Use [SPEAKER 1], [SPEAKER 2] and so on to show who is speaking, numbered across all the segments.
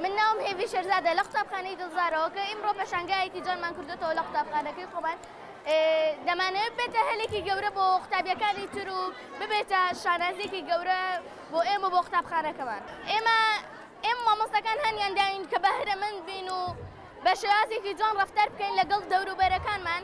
[SPEAKER 1] من ناوم هێڤی شێرزادە لە قوتابخانەی دڵزارەوە کە ئیمڕۆ پەشانگایەکی جوانمان کردوێتەوە لە قوتابخانەکەی خۆمان دەمانەوێت بێتە هەلێکی گەورە بۆ قوتابیەکانی تر و ببێتە شانازیێکی گەورە بۆ ئێمە بۆ قوتابخانەکەمان ئێمە ئێم مامۆستەکان هەنیان داین کە بەهرەمەند بین و بە شێوازێکی جوان ڕفتار بکەین لەگەڵ دەوروبەرەکانمان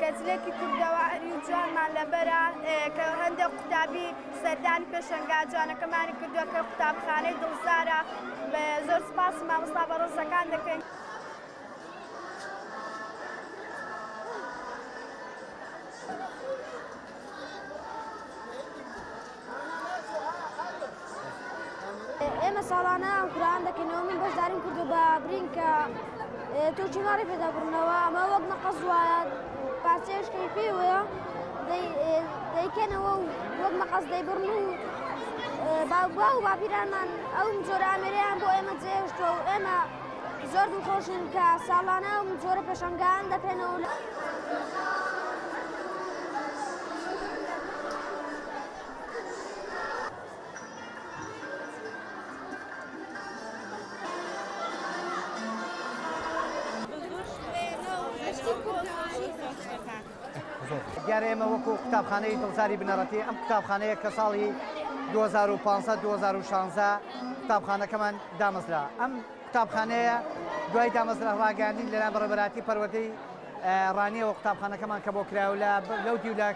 [SPEAKER 2] کە جلێکی کوردەواری و جوانمان لەبەرە کە هەندێک قوتابی سەردانی پێشەنگا جوانەکەمانی کردووە کە قوتابخانەی دڵزارە زۆر سپاس مامۆستا بە ڕۆزەکان دەکەین.
[SPEAKER 3] ئێمە ساڵانە ئەم قوران دەکەینەوە من بەشداریم کردو بە برین کە تۆچی ماڕی پێدابرنەوە ئەمە وەک مەقەز وایە پارچەیەش کەیفی وەیە دەیکەنەوە و وەک مەقەز دەیبڕن و باوبا و باپیرانمان ئەو جۆرە ئامێریان بۆ ئێمە جێشتوە و ئێمە زۆر دڵخۆشین کە ساڵانە و جۆرە پێشنگان دەکەنەوە لە
[SPEAKER 4] دیارە ئێمە وەکو قوتابخانەی دڵزاری بنەڕەتی ئەم قوتابخانەیە کە ساڵی 2015 2016 قوتابخانەکەمان دامەزرا ئەم قوتابخانەیە دوای دامەزرا ڕاگەاندی لەلا بەڕێبەراتی پەروەدەی ڕانیەوە قوتابخانەکەمان کە بۆ کراولە لەو دیو لە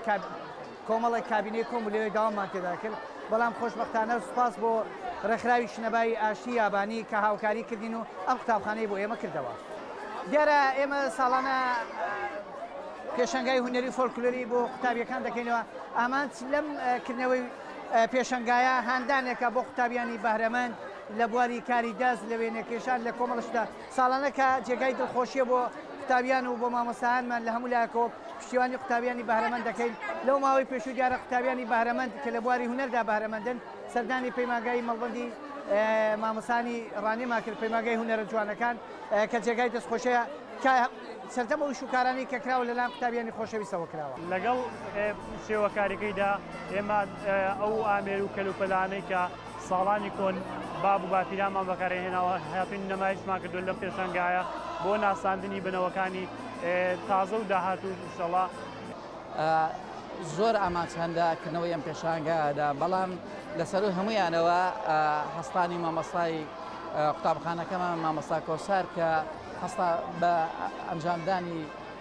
[SPEAKER 4] کۆمەڵێک کابینەی کۆم بوو لەوێ گەوامان تێدا کرد، بەڵام خۆشبەختانە سوپاس بۆ ڕێکخراوی شنەبایی ئاشتی یابانی کە هاوکاری کردین و ئەم قوتابخانەی بۆ ئێمە کردەوە. دیارە ئێمە ساڵانە پێشەنگای هونەری و فۆلکلۆری بۆ قوتابییەکان دەکەینەوە، ئامانج لەم کردنەوەی پێشەنگایە هاندانێکە بۆ قوتابییانی بەهرەمەند لە بواری کاری دەست، لە وێنەکێشان، لە کۆمەڵە شتدا. ساڵانە کە جێگای دڵخۆشیە بۆ قوتابیان و بۆ مامۆستایانمان لە هەموو لایەکەوە پشتیوانی قوتابیانی بەهرەمەند دەکەین لەو ماوەی پێشوو دیارە قوتابیانی بەهرەمەند کە لە بواری هونەردا بەهرەمەندن سەردانی پەیمانگای مەڵبەندی مامۆستانی ڕانێما کرد پەیمانگای هونەرە جوانەکان کە جێگای دەستخۆشەیە کە سەردەم ئەو شوکارانی کە کراوە لەلایەن قوتابیانی خۆشەویستەوە کراوە لەگەڵ
[SPEAKER 5] شێوەکاریەکەیدا ئێمە ئەو ئامێر و کەلوپەلانەی کە ساڵانی کۆن باب و باپیرانمان بەکارەیهێناوە، هاتووین نەمایشمان کردووە لەم پێشانگایە بۆ ناساندنی بنەوەکانی تازە و داهاتوو ئینشەڵا.
[SPEAKER 6] زۆر ئامانج هەن لە کردنەوەی ئەم پێشانگایەدا، بەڵام لە سەروو هەموویانەوە هەستانی مامۆستای قوتابخانەکەمان مامۆستا کۆسار کە هەستا بە ئەنجامدانی،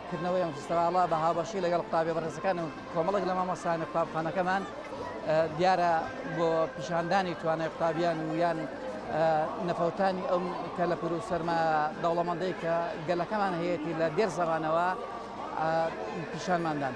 [SPEAKER 6] کردنەوەی ئەم فستیڤاڵە بە هاوبەشی لەگەڵ قوتابیە بەڕێزەکان و کۆمەڵێک لە مامۆستایانە قوتابخانەکەمان دیارە بۆ پیشاندانی توانای قوتابیان و یان نەفەوتانی ئەم کەلەپور و سەرما دەوڵەمەندەی کە گەلەکەمان هەیەی لە دێر زەمانەوە پیشانماندان.